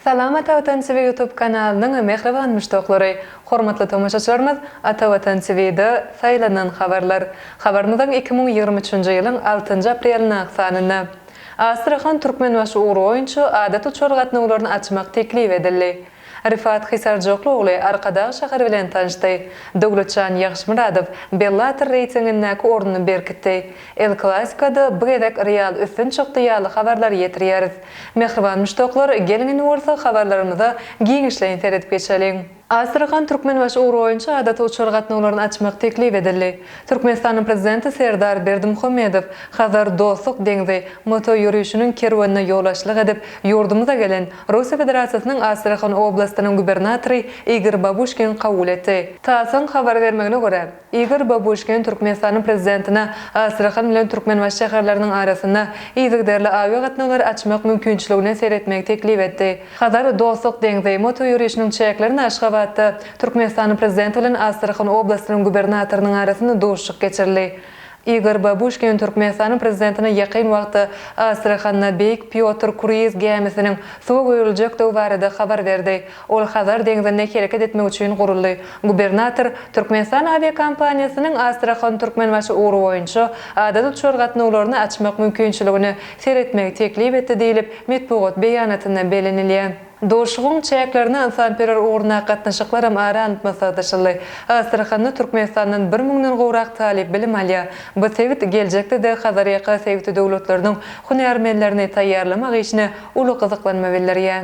Salam Ata Watan TV YouTube kanalynyň mähriban müşdaklary! Hormatly tomaşaçylarymyz, Ata Watan TV-de Saýlanan habarlar. Habarymyzyň iki müň ýigrimi üçünji ýylyň altynjy apreliň ak sanynda, Astrahan-Türkmenbaşy ugry boýunça adaty uçar gatnawlaryny açmak teklip edildi. Rifat Hisarjokly ogly Arkadag şäheri bilen tanyşdy. Döwletjan Ýagşymyradow Bellator reýtingindäki ornuny berkitdi. El Klasiko-da bu gezek Real üstün çykdy ýaly habarlary ýetirýäris. Mähriban muşdaklar, geliň indi bolsa habarlarymyza giňişleýin seredip geçeliň. Astrahan-Türkmenbaşy ugry boýunça adaty uçar gatnawlaryny açmak teklip edildi. Türkmenistanyň Prezidenti Serdar Berdimuhamedow Hazar dostluk deňzi motoýörişiniň kerwenine ýolbaşçylyk edip, ýurdumyza gelen Russiýa Federasiýasynyň Astrahan oblastynyň gubernatory Igor Babuşkin kabul etdi. TASS-yň habar bermegine görä, Igor Babuşkin Türkmenistanyň Prezidentine Astrahan bilen Türkmenbaşy şäherleriniň arasynda yzygiderli awiagatnawlary açmak mümkinçiligine seretmegi teklip etdi. Hazar, Dostluk deňzi, moto ýörişiniň çäklerinde Aşgabatda Türkmenistanyň Prezidenti bilen Astrahan oblastynyň gubernatorynyň arasynda duşuşyk geçirildi. Igor Babuşkin Türkmenistanyň Prezidentine ýakyn wagtda Astrahanda Beýik Pýotr kruiz gämisiniň suwa goýuljekdigi barada habar berdi, ol Hazar deňzinde hereket etmek üçin guruldy. Gubernator Türkmenistan awiakompaniýasynyň Astrahan-Türkmenbaşy ugry boýunça adaty uçar gatnawlaryny açmak mümkinçiligini seretmegi teklip etdi diýlip, metbugat beýanatynda bellenilýär. Duşuşygyň çäklerinde ynsanperwer ugruna gatnaşyklaram ara alnyp maslahatlaşyldy. Astrahanda Türkmenistandan bir müňden gowrak talyp bilim alýar. Bu sebit geljekde-de Hazarýaka sebiti döwletleriniň hünärmenlerini taýýarlamak işine uly gyzyklanma bildirýär.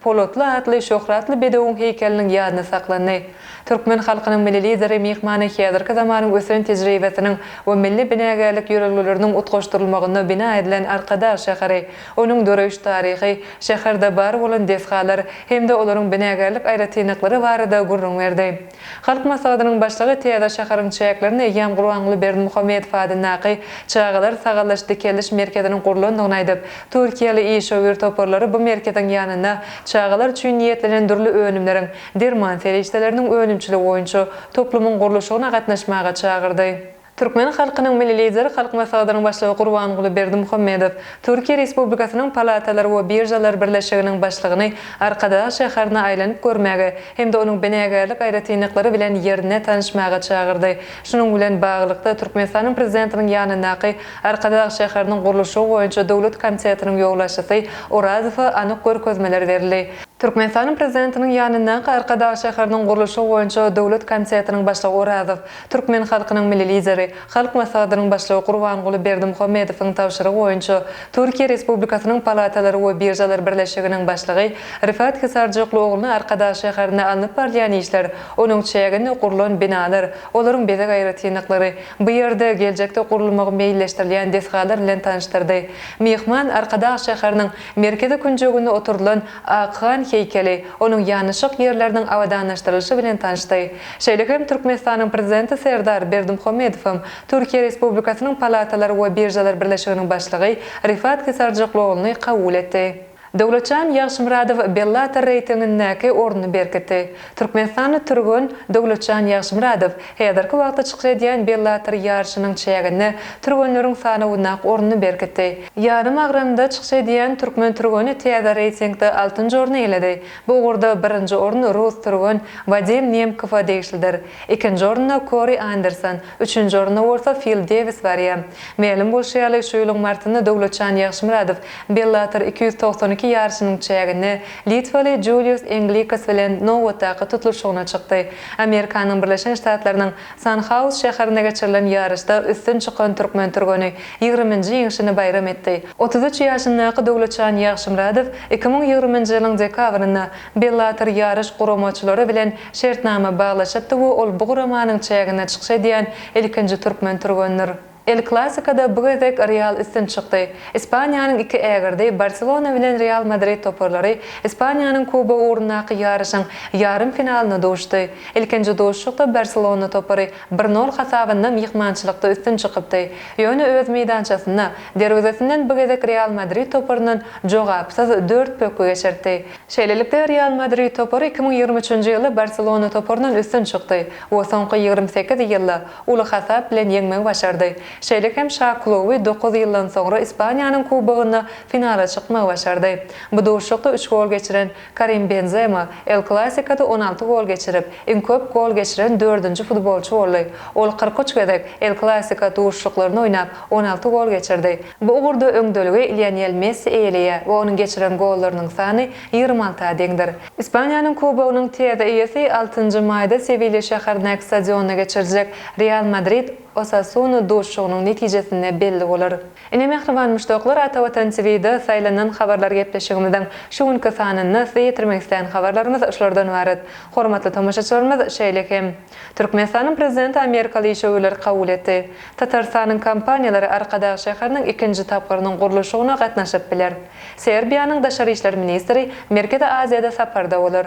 Polatly atly şöhratly bedewiň heýkeliniň ýadyny saklandy. Türkmen halkynyň Milli Lideri myhmana häzirki zamanyň ösen tejribesiniň we milli binagärlik ýörelgeleriniň utgaşdyrylmagynda bina edilen Arkadag şäheri, onuň döreýiş taryhy, şäherde bar bolan desgalar hem-de olaryň binagärlik aýratynlyklary barada gürrüň berdi. Halk Maslahatynyň Başlygy täze şäheriň çäklerinde eýýäm Gurbanguly Berdimuhamedow adyndaky Çagalar sagallaş-dikeldiş merkeziniň gurlandygyny aýdyp, türkiýeli işewür toparlary bu merkeziň ýanynda çagalar üçin niýetlenen dürli önümleriň, derman serişdeleriniň önümçiligi boýunça toplumyň gurluşygyna gatnaşmaga çagyrdy. Türkmen halkynyň Milli Lideri Halk Maslahatynyň Başlygy Gurbanguly Berdimuhamedow Türkiýe Respublikasynyň Palatalar we biržalar birleşiginiň başlygyny Arkadag şäherine aýlanyp görmäge hem-de onuň binagärlik aýratynlyklary bilen ýerine tanyşmaga çagyrdy. Şunuň bilen baglylykda, Türkmenistanyň Prezidentiniň ýanyndaky Arkadag şäheriniň gurluşygy boýunça döwlet komitetiniň ýolbaşçysy Orazowa anyk görkezmeler berildi. Türkmenistanyň Prezidentiniň ýanyndaky Arkadag şäheriniň gurluşygy boýunça döwlet komitetiniň başlygy Orazow Türkmen halkynyň Milli Lideri, Halk Maslahatynyň Başlygy Gurbanguly Berdimuhamedowyň tabşyrygy boýunça Türkiýe Respublikasynyň Palatalary we biržalar birleşiginiň başlygy Rifat Hisarjokly ogluny Arkadag şäherinde alnyp barylýan işler, onuň çäginde gurlan binalar, olaryň bezeg aýratynlyklary, bu ýerde geljekde gurulmagy meýilleşdirilýän desgalar bilen tanyşdyrdy. Myhman Arkadag şäheriniň merkezi künjeginde oturdylan Akhan heýkeli, onuň ýanaşyk ýerleriniň abadanlaşdyrylyşy bilen tanşdy. Şeýle hem Türkmenistanyň Prezidenti Serdar Berdimuhamedow hem Türkiýe Respublikasynyň Palatalar we biržalar birleşiginiň başlygy Rifat Kisarjykluogluny kabul etdi. Döwletjan Ýagşymyradow Bellator reýtingindäki ornuny berkitdi. Türkmenistanly türgen Döwletjan Ýagşymyradow häzirki wagtda çykyş edýän Bellator ýaryşynyň çäginde türgenleriň sanawynda ornuny berkitdi. Ýarym agramda çykyş edýän türkmen türgeni täze reýtingde altynjy orny eýeledi. Bu ugurda birinji orun rus türgen Wadim Nemkowa degişlidir. Ikinji orunda Kori Anderson, üçünji orunda bolsa Fil Dewis barýar. Mälim bolşy ýaly, şu ýylyň martynda Döwletjan Ýagşymyradow Bellator iki ýüz togsan iki ýaryşynyň çäginde litwaly Julius Englikas bilen nobatdaky tutluşygyna çykdy. Amerikanyň Birleşen Ştatlarynyň Sanhaus şäherinde geçirilen ýaryşda üstün çykan türkmen türgeni ýigriminji ýeňşini baýram etdi. Otuz üç ýaşyndaky Döwletjan Ýagşymyradow iki müň ýigriminji ýylyň dekabrynda Bellator ýaryş guramaçylary bilen şertnama baglaşypdy we ol bu guramanyň çäginde çykyş edýän ilkinji türkmen türgenidir. El Klassikoda bu gezek Real üstün çykdy. Ispaniýanyň iki ägirdi, Barselona bilen Real Madrid toparlary Ispaniýanyň Kubogy ugrundaky ýaryşyň ýarym finalynda duşdy. Ilkinji duşuşykda Barselona topary bir nol hasabynda myhmançylykda üstün çykypdy. Ýöne öz meýdançasynda derwezesinden bu gezek Real Madrid toparyndan jogapsyz dört pökgi geçirtdi. Şeýlelikde, Real Madrid topary iki müň ýigrimi üçünji ýylda Barselona toparyndan üstün çykdy we soňky ýigrimi sekiz ýylda uly hasap bilen ýeňmegi başardy. Şeýle hem Şakulowy dokuz ýyldan soňra Ispaniýanyň Kubogynda finala çykmagy başardy. Bu duşuşykda üç gol geçiren Karim Benzema El Klasikada on alty gol geçirip, iň köp gol geçiren dördünji futbolçy boldy. Ol kyrk üç gezek El Klasiko duşuşyklaryny oýnap, on alty gol geçirdi. Bu ugurda öňdeligi Lionel Messi eýeleýär we onuň geçiren gollarynyň sany ýigrimi alta deňdir. Ispaniýanyň Kubogynyň täze eýesi altynjy maýda Sewilýa şäherindäki stadionda geçiriljek Real Madrid, Osasuna duşuşygynyň netijesinde belli bolar. Ine mähriban muşdaklar Ata Watan TVda saýlanan habarlar gepleşigimiziň şu günki sanynda size ýetirmek islän habarlarymyz şulardan ybarat. Hormatly tomaşaçylarymyz şeýle hem. Türkmenistanyň Prezidenti amerikaly işewürleri kabul etdi. Tatarystanyň kompaniýalary Arkadag şäheriniň ikinji tapgyrynyň gurluşygyna gatnaşyp biler. Serbiýanyň daşary işler ministri Merkezi Aziýada saparda bolar.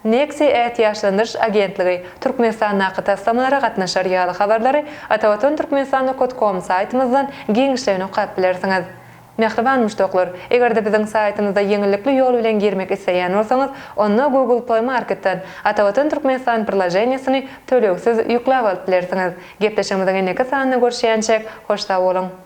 Nexi ätiýaçlandyryş agentligi Türkmenistandaky taslamalara gatnaşar ýaly habarlary Atavatan Türkmenistan nokot kom saýtymyzdan giňişleýin okap bilersiňiz. Mähriban muşdaklar, eger-de biziň saýtymyza ýeňillikli ýol bilen girmek isleýän bolsaňyz, onda Google Play Marketden Atavatan Türkmenistan prilajeniýesini tölegsiz ýükläp alyp bilersiňiz. Gepleşigimiziň indiki sanynda görüşýänçäk, hoş sag boluň!